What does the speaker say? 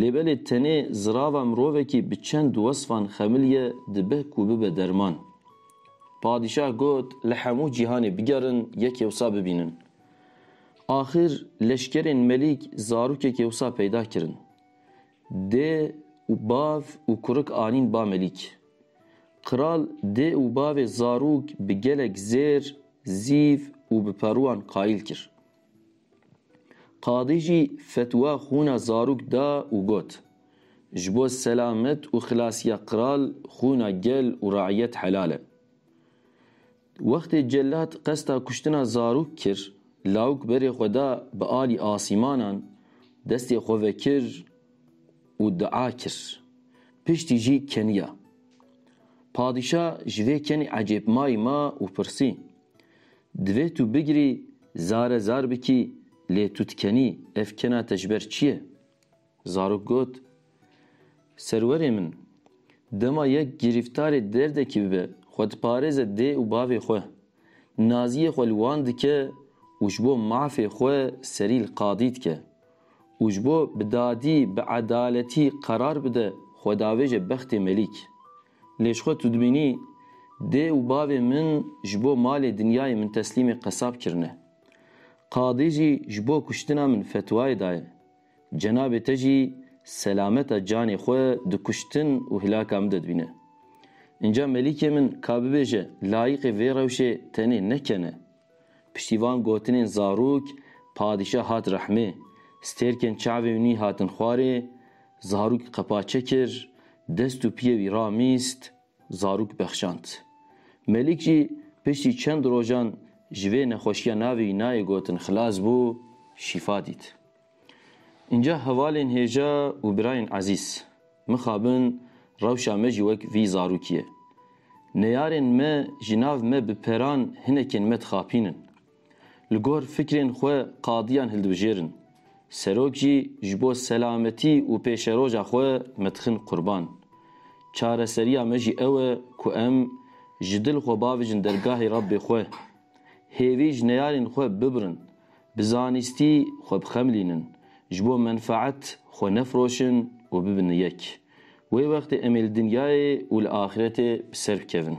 Lê belê tenê zirava mirovekî bi çend wesfan xemil ye dibe ku bibe derman. Padîşah got li hemû cîhanê bigerin yekê wisa bibînin. Axir leşkerên Melîk zarokekê wisa peyda kirin. Dê û bav û kurik anîn ba Melîk. Kral dê û bavê zarok bi gelek zêr, zîv û bi peruan qayil kir. Qadî jî fetwa xwûna zarok da û got, Ji bo selamet û xilasiya qral xwûna gel û reîyet helal e. Wextê cellat qesta kuştina zarok kir, lawik berê xwe da bi alî asîmanan, destê xwe vekir û dua kir. Piştî jî keniya. Padîşa ji vê kenê ecêbmayî ma û pirsî, Divê tu bigirî zare zar bikî lê tu dikenî, ev kena te ji ber çi ye? Zarok got, Serwerê min, dema yek girîftarê derdekî bibe, xwe diparêze dê û bavê xwe, naziyê xwe li wan dike û ji bo mafê xwe serî li qadî dike û ji bo bi dadî, bi edaletî qerar bide xwedavêje bextê melîk. Lê ji xwe tu dibînî dê û bavê min ji bo malê dinyayê min teslîmê qesab kirine. Qadî jî ji bo kuştina min fetwayê daye. Cenabê te jî selameta canê xwe di kuştin û hilaka min de dibîne. Înca melîkê min ka bibêje layîqê vê rewşê tenê ne ken e. Piştî van gotinên zarok, padîşah hat rehmê. Stêrkên çavên wî hatin xwarê, zarok qepaçe kir, dest û piyê wî ramîst, zarok bexşand. Melik jî piştî çend rojan ji vê nexweşiya navê wî nayê gotin xilas bû, şîfa dît. Înca hevalên hêja û birayên ezîz, mixabin rewşa me jî wek vî zarokî ye. Neyarên me ji nav me bi peran hinekên me dixapînin. Li gor fikrên xwe qadiyan hildibijêrin. Serok jî ji bo selametî û pêşeroja xwe me dixin qurban. Çareseriya me jî ew e ku em ji dil xwe bavêjin dergahê Rabbê xwe. Hêvî ji neyarên xwe bibirin, Bi zanistî xwe bixemilînin, ji bo menfaet xwe nefiroşin û bibin yek. Wê wextê em ê li dinyayê û li axîretê bi ser bikevin.